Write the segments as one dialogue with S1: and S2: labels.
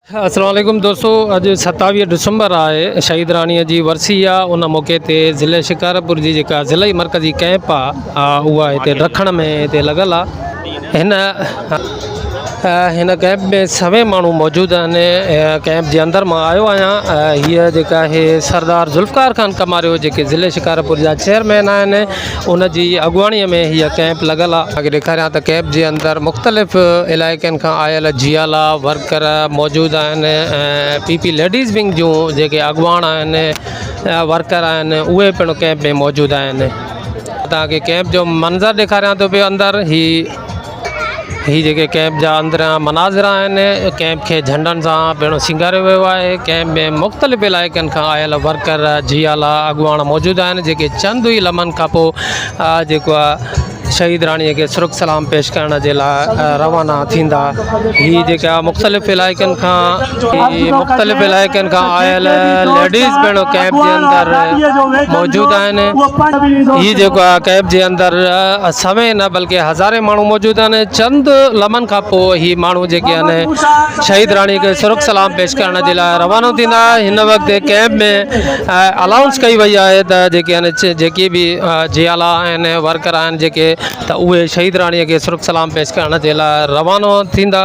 S1: السلام عليڪم دوستو اڄ ستاويهه ڊسمبر آهي شهيد راڻي جي ورسي آ ان موقعي تي ضلع شڪارپور جي جيڪا ضلعي مرڪزي ڪئمپ آ اها هتي رکڻ ۾ هتي لڳل آ هن هن ڪئمپ ۾ سوين ماڻهو موجود آهن ڪئمپ جي اندر مان آيو آهيان هيء جيڪا آهي سردار ذوالفقار خان ڪماريو جيڪي ضلع شڪارپور جا چيئرمين آهن ان جي اڳواڻي ۾ هيء ڪئمپ لڳل آ. توهان کي ڏيکاريان ته ڪئمپ جي اندر مختلف علائقن کان آيل جيالا ورڪر موجود آهن ۽ پي پي ليڊيز ونگ جون جيڪي اڳواڻ آهن ورڪر آهن اهي پڻ ڪئمپ ۾ موجود آهن توهان کي ڪئمپ جو منظر ڏيکاريان ٿو پيو اندر هي هي جيڪي ڪئمپ جا اندريان مناظر آهن ڪئمپ کي جهنڊن سان پڻ سينگاريو ويو آهي ڪئمپ ۾ مختلف علائقن کان آيل ورڪر جي اعليٰ اڳواڻ موجود آهن جيڪي چند ئي لمحن کان پوء جيڪو آهي شهيد راڻي کي سرخ سلام پيش ڪرڻ جي لاء روانا ٿيندا هي جيڪا مختلف علائقن کان جي مختلف علائقن کان آيل ليڊيز پڻ ڪئمپ جي اندر موجود آهن هي جيڪو آهي ڪئمپ جي اندر سوين نه بلڪه هزارين ماڻهو موجود آهن چند لمحن کان پوء هي ماڻهو جيڪي آهن شهيد راڻي کي سرخ سلام پيش ڪرڻ جي لاء روانو ٿيندا هن وقت ڪئمپ ۾ الائونس ڪئي وئي آهي ته جيڪي آهن جيڪي به جيالا آهن ورڪر آهن جيڪي ته اهي شهيد راڻي کي سرخ سلام پيش ڪرڻ جي لاء روانو ٿيندا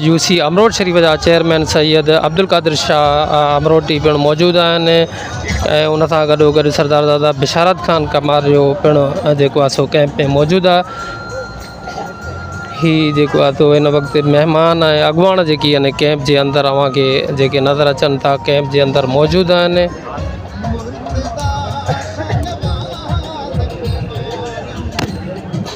S1: يو سي امروٽ شريف جا چيئرمين سيد عبدالقادر شاهه امروٽي پڻ موجود آهن ۽ ان سان گڏو گڏ سردار دادا بشارت خان ڪمار جو پڻ جيڪو آهي سو ڪئمپ ۾ موجود آهي هي جيڪو آهي سو هن وقت مهمان ۽ اڳواڻ جيڪي آهن ڪئمپ جي اندر اوهان کي جيڪي نظر اچن ٿا ڪئمپ جي اندر موجود آهن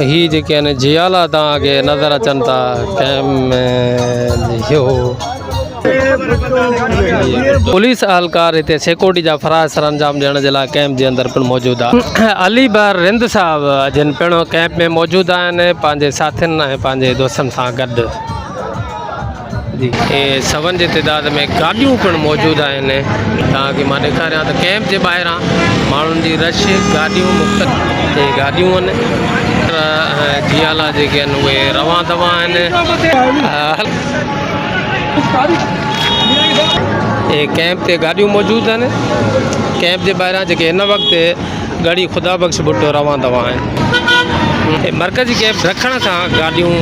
S1: هي جيڪي آهن جيالا توهان کي نظر اچن ٿا پوليس اهلڪار هتي سيڪورٽي جا فرائض سر انجام ڏيڻ جي لاء ڪيمپ جي اندر پڻ موجود آهي علي بر رند صاحب جن پڻ ڪيمپ ۾ موجود آهن پنهنجي ساٿين ۽ پنهنجي دوستن سان گڏ ۽ سون جي تعداد ۾ گاڏيون پڻ موجود آهن تان ڪي مان ڏيکاريان ته ڪئمپ جي ٻاهران ماڻهن جي رش گاڏيون مختلف ۽ گاڏيون ان جيالا جيڪي آهن اهي روان دوان آهن ڪئمپ تي گاڏيون موجود آهن ڪئمپ جي ٻاهران جيڪي هن وقت ڳڙهي خدا بخش ڀٽو روان دوان آهن. هتي مرڪزي ڪئمپ رکڻ کان گاڏيون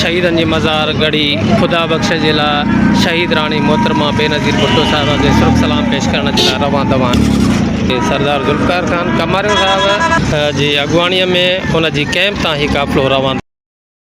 S1: شهيدن جي مزار ڳڙهي خدا بخش جي لاء شهيد راڻي محترمه بينظير ڀٽو صاحبه کي سرخ سلام پيش ڪرڻ جي لاء روان دوان آهن. سردار ذوالفقار خان ڪماريو صاحب جي اڳواڻي ۾ ان جي ڪئمپ تان هي قافلو روان.